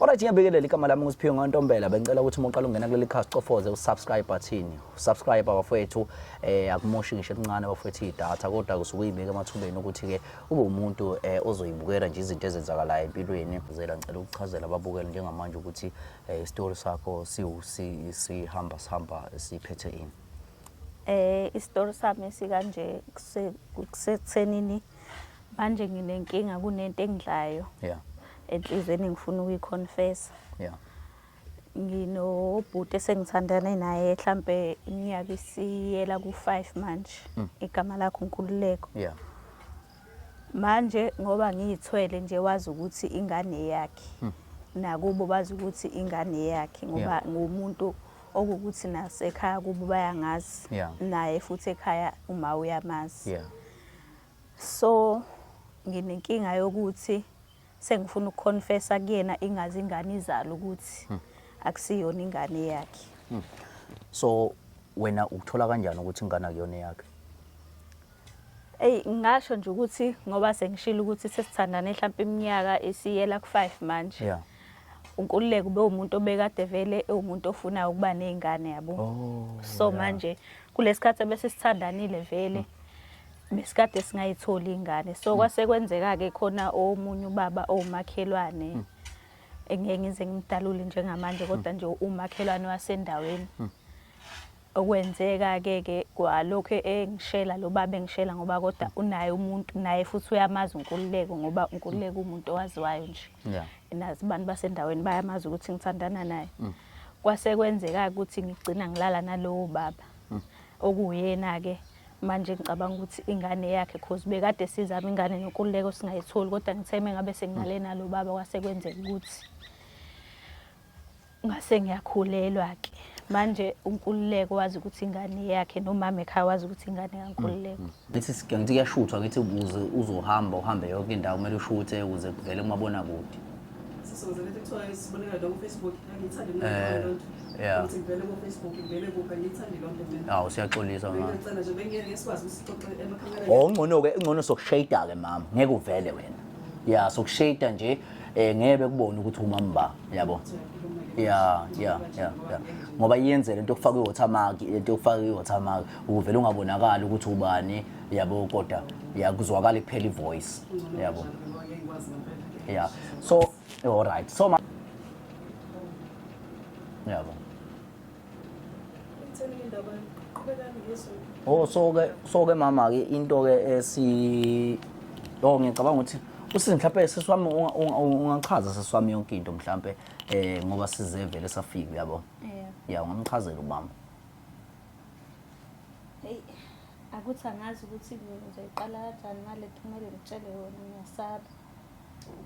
Alright ngiyabikelela igama lami nguSiphiwe Ngontombela bengicela ukuthi uma uqala ungena kuleli khasi cofoze usubscribe button usubscribe abafowethu eh akumoshi ngisho elincane abafowethu idata kodwa kusuke uyibeka emathubeni ukuthi ke ube umuntu eh ozoyibukela nje izinto ezenzakalayo empilweni uzela ngicela ukuchazela ababukeli njengamanje ukuthi eh story sakho siwusi sihamba sihamba siphethe ini eh istory sami sikanje kusethenini Manje nginenkinga kunento engidlayo. Yeah. Enhlizweni ngifuna ukuyiconfessa. Yeah. Nginobhuti esengithandane naye mhlambe iminyaka isiyela ku-5 manje. Mm. Igama lakho Nkululeko. Yeah. Manje ngoba ngiyithwele nje wazi ukuthi ingane yakhe. Mm. Nakubo bazi ukuthi ingane yakhe ngoba yeah. ngumuntu yeah. okukuthi nasekhaya kubo bayangazi yeah. naye futhi ekhaya uma uyamazi yeah. so nginenkinga yokuthi sengifuna ukuconfessa kuyena ingazi ingane izalo ukuthi hmm. akusiyona ingane yakhe hmm. so wena ukuthola kanjani ukuthi ingane akuyona yakhe Ey ngasho nje ukuthi ngoba sengishilo ukuthi sesithandane mhlawumbe iminyaka isiyela ku5 manje. Yeah. uNkululeko bewumuntu obekade vele ewumuntu ofuna ukuba nezingane yabo oh, so yeah. manje kulesikhathi bese sithandanile vele besikade singayitholi ingane so kwase kwenzeka ke khona omunye ubaba owumakhelwane hmm. engeke ngize ngimdalule njengamanje kodwa nje umakhelwane wasendaweni hmm. Okwenzeka-ke ke kwalokhu engishela lo baba engishela ngoba kodwa unaye umuntu naye futhi uyamazi uNkululeko ngoba uNkululeko umuntu owaziwayo nje yeah. nazi abantu basendaweni bayamazi ukuthi ngithandana naye mm. kwase kwenzeka ukuthi ngigcina ngilala nalowo baba mm. okuyena-ke manje ngicabanga ukuthi ingane yakhe cause bekade sizama ingane noNkululeko singayitholi kodwa ngitheme ngabe senginale nalo baba kwase kwenzeka ukuthi ngase ngiyakhulelwa ke manje unkululeko wazi ukuthi ingane yakhe nomama ekhaya wazi ukuthi ingane kankululeko mm, mm. ngithi ngithi kuyashuthwa ngithi ukuze uzohamba uhambe yonke indawo kumele ushuthe ukuze kuvele kumabona kude sisebenzele kuthiwa isibonelo lo Facebook ngithanda imali eh, lonto yeah ukuthi ngivele ku Facebook ngivele kuphi ngithanda lonto mina awu siyaxolisa mama ngicela nje bengeke ngisikwazi usixoxe emakhameleni oh ngcono ke ingcono sokushayida ke mama ngeke uvele wena yeah sokushayida nje eh ngeke bekubone ukuthi umamba yabo yeah yeah yeah yeah ngoba iyenze lento yokufaka iwatermark lento yokufaka iwatermark uvele ungabonakala ukuthi ubani yabo kodwa yakuzwakala iphela ivoice yabo yeah so all right so yabo Oh so ke so ke mama ke into ke esi Oh ngicabanga ukuthi usizi mhlawumbe sisi wami ungachaza sisi wami yonke into mhlawumbe eh ngoba sizevele safika yabo. Yeah. Yeah ungamchazela ubaba. Hey akuthi angazi ukuthi ngizoyiqala kanjani ngale kumele ngitshele wona ngiyasaba.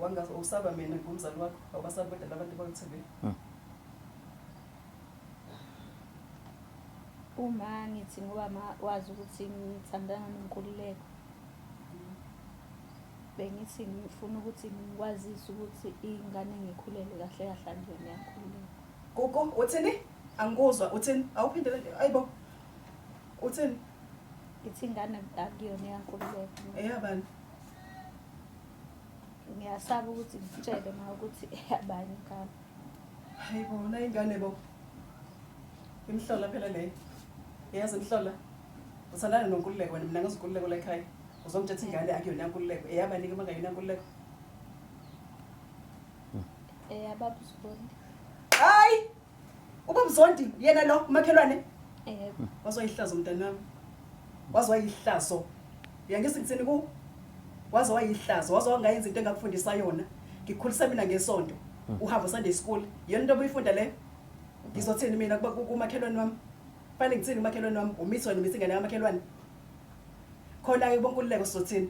Wangazi usaba mina ngumzali wakho awubasabi kodwa labantu bakuthebile. Hmm. Uma ngithi ngoba ma wazi ukuthi ngithandana noNkululeko, bengithi ngifuna ukuthi ngikwazise ukuthi iy'ngane ngikhulele kahle kahle andiyona yaNkululeko. Gugu, uthini? Angikuzwa, uthini? Awuphindele nje, ayi bo. Uthini? Ngithi ingane akuyona eyaNkululeko. Eyabani? Ngiyasaba ukuthi ngikutshele ma ukuthi eyabani ingane. Hayibo nayi ingane bo. Imhlola phela le. Yazi imhlola. Usalana nonkululeko wena mina ngizikululeko la ekhaya. Uzongithetha ingane akuyona nkululeko. Eyabani ke mangayona nkululeko? Eya baba uzondi. Hayi! Uba mzondi yena lo umakhelwane. Yebo. Wazoyihlaza umntanami. Waze wayihlazo. Uyangizwa ngithini ku? Waze wayihlazo, waze wangayenza into engakufundisa yona. Ngikukhulisa mina ngesonto. Hmm. Uhamba Sunday school. Yona into obuyifunda le. Ngizothini mina kuba kumakhelwane wami? Fanele ngithini umakhelwane wami? Umithi wena umithi ingane kamakhelwane. Khona ke bonkululeko sizothini?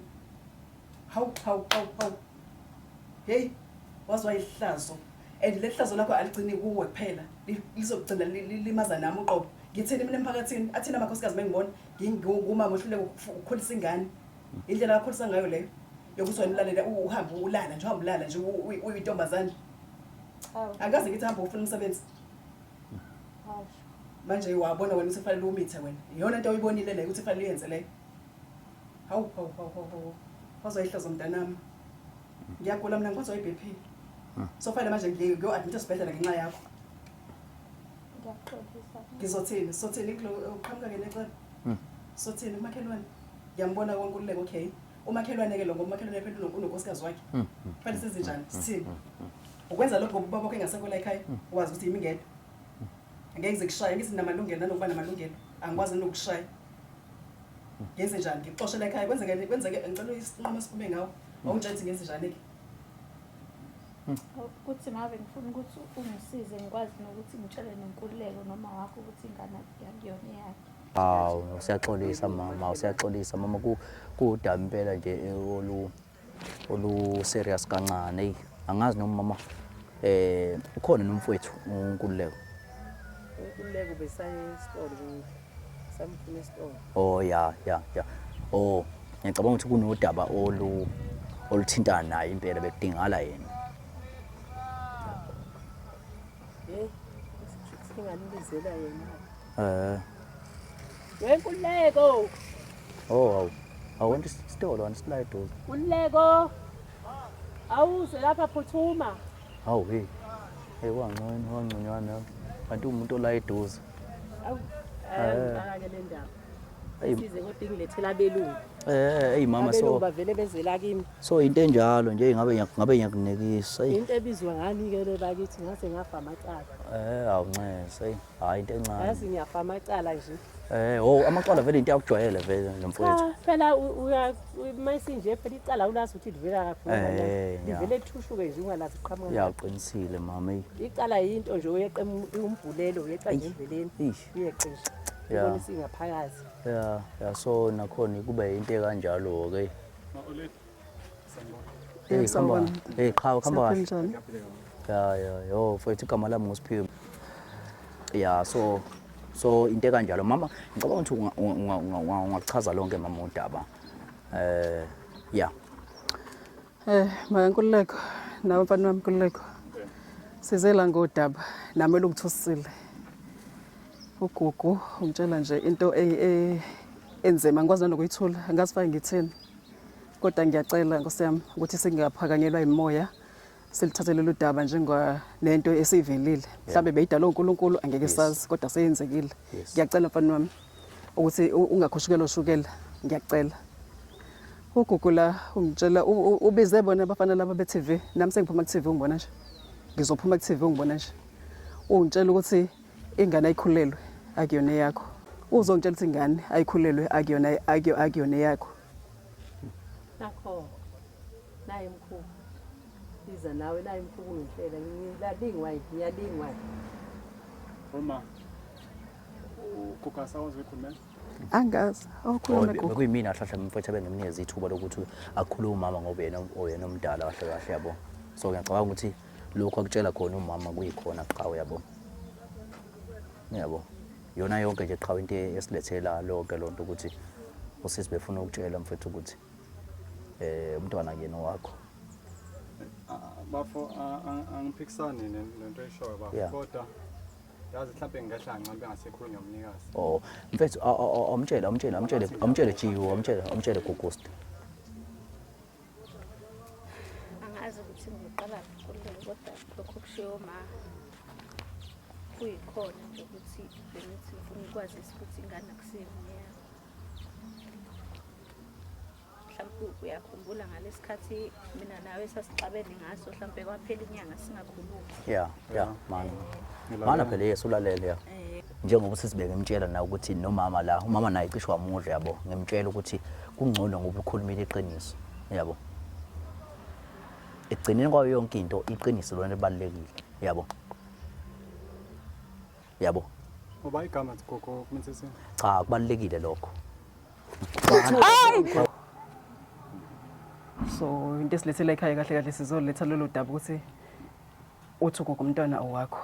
Hawu hawu hawu hawu. Hey, waze wayihlazo. And lehlazo lakho aligcini kuwe kuphela. Li- Lizogcina li- li- limaza nami uqobo. Ngithini mina emphakathini? Athina amakhosikazi mengibona ngingumama ohluleka ukufu- ukukhulisa ingane. Indlela akhulisa ngayo leyo yokuthi wena ulalele u- uhambe ulala nje uhambe ulala nje u- u- uyintombazane. Hawu. Akaze ngithi hamba ufuna umsebenzi. Hawu. Manje wabona wena ukuthi kufanele umithe wena. Iyona into oyibonile leyo ukuthi kufanele uyenze leyo. Hawu hawu hawu hawu hawu. Phozwa ihlazo mntanami. Ngiyagula mina ngiphozwa iBP. Sofanele manje ngiye kuyo admit esibhedlela ngenxa yakho. Ngiyakuxolisa. Ngizothini? Sothini kulo uqhamuka ke necala? Sothini umakhelwane? Ngiyambona konke ululeko okay. Umakhelwane ke lo ngoba umakhelwane phela uno- unonkosikazi wakhe. Fanele senze njani? Sithini? Ukwenza lokho ngoba ubaba wakho engasekho la ekhaya, wazi ukuthi yimi ngedwa. Ngeke ngize kushaye, ngithi namalungelo nanokuba namalungelo. Angikwazi nokushaya. ngenze njani ngikuxoshela ekhaya kwenzeke kwenzeke ngicela isinqumo esiphume ngawo awungitshela ukuthi ngenze njani ke ukuthi mave ngifuna ukuthi ungisize ngikwazi nokuthi ngitshele nenkululeko noma wakho ukuthi ingane yakuyona eyakhe hawu usiyaxolisa mama usiyaxolisa mama kudaba impela nje olu olu serious kancane eyi angazi noma mama eh ukhona nomfowethu uNkululeko uNkululeko besayesitolo kuthi samfuna esitolo oh ya ya ya oh ngiyacabanga ukuthi kunodaba olu oluthintana naye impela bekudingala yena hey singanibizela yena Eh. Wenkululeko. Oh, awu. Awonke isitolo wena sila eduze. Kululeko. Awuze lapha phuthuma. Hawu hey. Hey wangconywa wangconywana. Kanti umuntu ola eduze. Awu. Eh, ngake le ndaba. size kodwa ingilethela abelungu eh hey mama so abelungu bavele bezela kimi so into enjalo nje ngabe ngabe ngiyakunekisa into ebizwa ngani ke le bakithi ngase ngafa amacala eh awunxese Hayi into encane. Yazi ngiyafa amacala nje. Eh, oh amacala vele into yakujwayele vele Cha, nomfowethu. phela u- uya mayisinje phela icala ulazi ukuthi livela kaphi. Eh, ngoba ya. Livele thushuke nje ungalazi qhamuka. ngaphi. Yaqinisile mama. eyi. Icala yinto nje uyeqa em- umbhulelo uyeqa nje endleleni. Eish. Uyeqa nje. Ya. Ubona isingaphakathi. Yeah, yeah so nakhona kube into kanjalo ke. Ma Oledi. Hey, sawubona. Hey, qhawe khamba kahle. Siyaphila Ya ya yo mfowethu igama lami nguSiphiwe. Ya so so into ekanjalo mama ngicabanga ukuthi unga- unga- unga- unga- ungakuchaza lonke mama udaba. Eh ya Eh, makankululeko nawe mfana wami nkululeko size la ngodaba nami elungithusile ugugu ungitshela nje into e- e- enzima ngikwazi nanokuyithula angazi fake ngithini Kodwa ngiyacela Nkosi yami ukuthi singaphakanyelwa imoya silithathe lolu daba njengoba nento esivelile mhlawumbe beyidala uNkulunkulu angeke sazi kodwa seyenzekile ngiyacela mfana wami ukuthi ungakhushukelwa ushukela ngiyacela ugugula ungitshela ubize bona abafana laba be-TV nami sengiphuma ku-TV ungibona nje ngizophuma ku-TV ungibona nje ungitshela ukuthi ingane ayikhulelwe akuyona eyakho uzongitshela ukuthi ingane ayikhulelwe akuyona akuyona eyakho nakho naye mkhulu iza nawe naye mkhulu ngihlela ngiyalingwa ngiyalingwa uma ukhokha sawazi wekhulumela angazi awukhuluma gogo kuyimina ahlahla mfethu abenginikeza ithuba lokuthi akhulume umama ngoba yena oyena omdala kahle kahle yabo so ngiyacabanga ukuthi lokhu akutshela khona umama kuyikhona qha uyabo uyabo yona yonke nje qha into esilethela lonke lonto ukuthi usisi befuna ukutshela mfethu ukuthi eh umntwana kuyena wakho bafo angiphikisani nento eshoyo bafo kodwa yazi mhlawumbe ngingehla ngincambe engasekhulunywa umnikazi oh mfethu awumtshele awumtshele awumtshele awumtshele jiwo awumtshele awumtshele gugusti angazi ukuthi ngiqala kuqulele kodwa lokho kushiwo ma kuyikhona nje ukuthi bengithi ngifuna ukwazisa ukuthi ingane akusiyona yakho mhlawumpe uyakhumbula ngalesi khathi mina nawe sasixabene ngaso mhlawumpe kwaphela inyanga singakhulumi ya ya mana mana phela yesu ulalele ya eh, njengoba usisi bengimtshela na ukuthi nomama la umama naye cishe wamudla yabo ngimtshela ukuthi kungcono ngoba ukhulumile iqiniso yabo ekugcineni kwayo yonke into iqiniso lona libalulekile yabo yabo ngoba igama gogo kumthethini cha kubalulekile lokho so into esilethela ekhaya kahle kahle sizoletha lolo daba ukuthi uthi ugogo umntwana owakho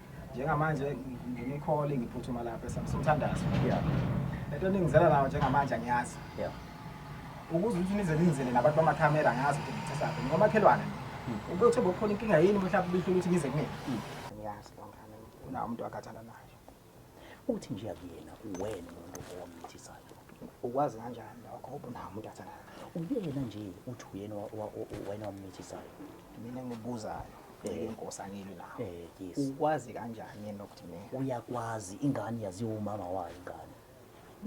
njengamanje nginikhole ngiphuthuma lapha esamsuthandazo yeah lento ningizela nayo njengamanje angiyazi yeah ukuze ukuthi nize ningizele nabantu bamakhamera angazi ukuthi ngithesaphi ngomakhelwane hmm. ube uthe bokhona inkinga yini mhlawumbe ubihlula ukuthi nize kumina hmm. ngiyazi bangane unawo umuntu akhathana nayo uthi nje akuyena uwena umuntu owamthisayo ukwazi kanjani lokho ubunawo umuntu athanda uyena nje uthi uyena wena wamthisayo mina ngibuzayo ngeke inkosi angilwi nawo Eh, yes. ukwazi kanjani yena ukuthi mina uyakwazi ingane yaziwa umama wayo ingane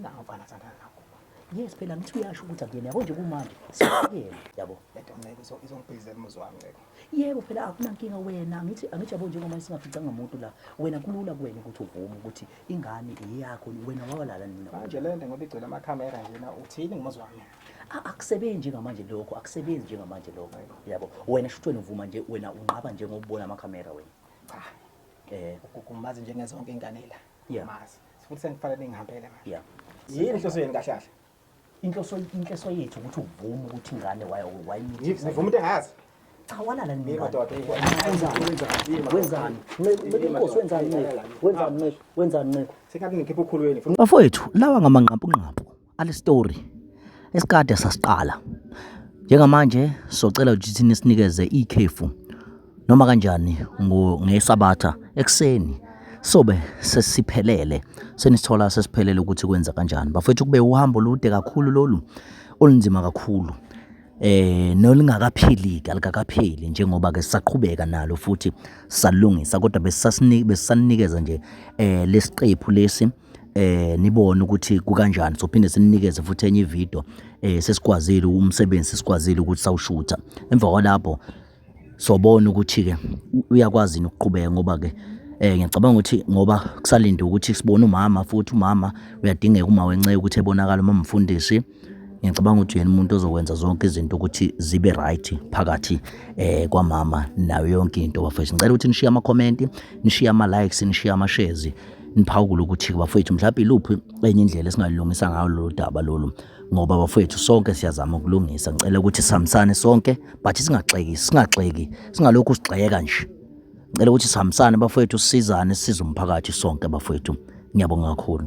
nawo mfana sandana nakho yes phela ngithi uyasho ukuthi akuyena yabo nje kumanje sekuyena yabo lento nceke izo- izongibhizela umuzi wami nceke yebo phela akunankinga wena angithi angithi yabo njengoba singaficanga muntu la wena kulula kuwena ukuthi uvume ukuthi ingane eyakho wena wawalala nina manje le nto ngoba igcwele amakhamera njena uthini ngomuzi wami akusebenzi njengamanje lokho akusebenzi njengamanje lokho yabo wena shuthi wena uvuma nje wena unqaba nje ngokubona amakhamera wena cha eh ukugumazi njengezonke ingane la yeah. mazi futhi sengifanele ngihambele manje yeah yini inhloso yenu kahle kahle inhloso inhloso yethu ukuthi uvume ukuthi ingane wayo wayimithi ngivume into engazi cha walala nini madoda wenzani inkosi wenzani wenzani wenzani sengathi ngikhipha ukhulweni bafowethu lawa ngamanqampunqampu Ale story esikade sasiqala njengamanje socela ukuthi nisinikeze ikhefu noma kanjani ngesabatha ekuseni sobe sesiphelele senithola sesiphelele ukuthi kwenza kanjani bafethu kube uhambo lude kakhulu lolu olunzima kakhulu eh nolingakaphili kalikapheli njengoba ke sisaqhubeka nalo futhi salungisa kodwa besasini besaninikeza nje eh lesiqephu lesi eh nibone ukuthi kukanjani sophinde sininikeze futhi enye ivideo eh sesikwazile umsebenzi sesikwazile ukuthi sawushutha emva kwalapho sobona ukuthi ke uyakwazi ukuqhubeka ngoba ke eh ngiyacabanga ukuthi ngoba kusalinde ukuthi sibone umama futhi umama uyadingeka uma wenceya ukuthi ebonakala uma mfundisi ngiyacabanga ukuthi yena umuntu ozokwenza zonke izinto ukuthi zibe right phakathi eh kwamama nayo yonke into bafethu ngicela ukuthi nishiye ama comment nishiye ama likes nishiye ama shares niphawukule ukuthi bafethu mhlawumbe iluphi enye indlela esingalilungisa ngayo lolu daba lolu ngoba bafowethu sonke siyazama ukulungisa ngicela ukuthi sihambisane sonke but singaxeki singaxeki singalokhu sigxeka nje ngicela ukuthi sihambisane bafowethu sisizane size umphakathi sonke bafowethu ngiyabonga kakhulu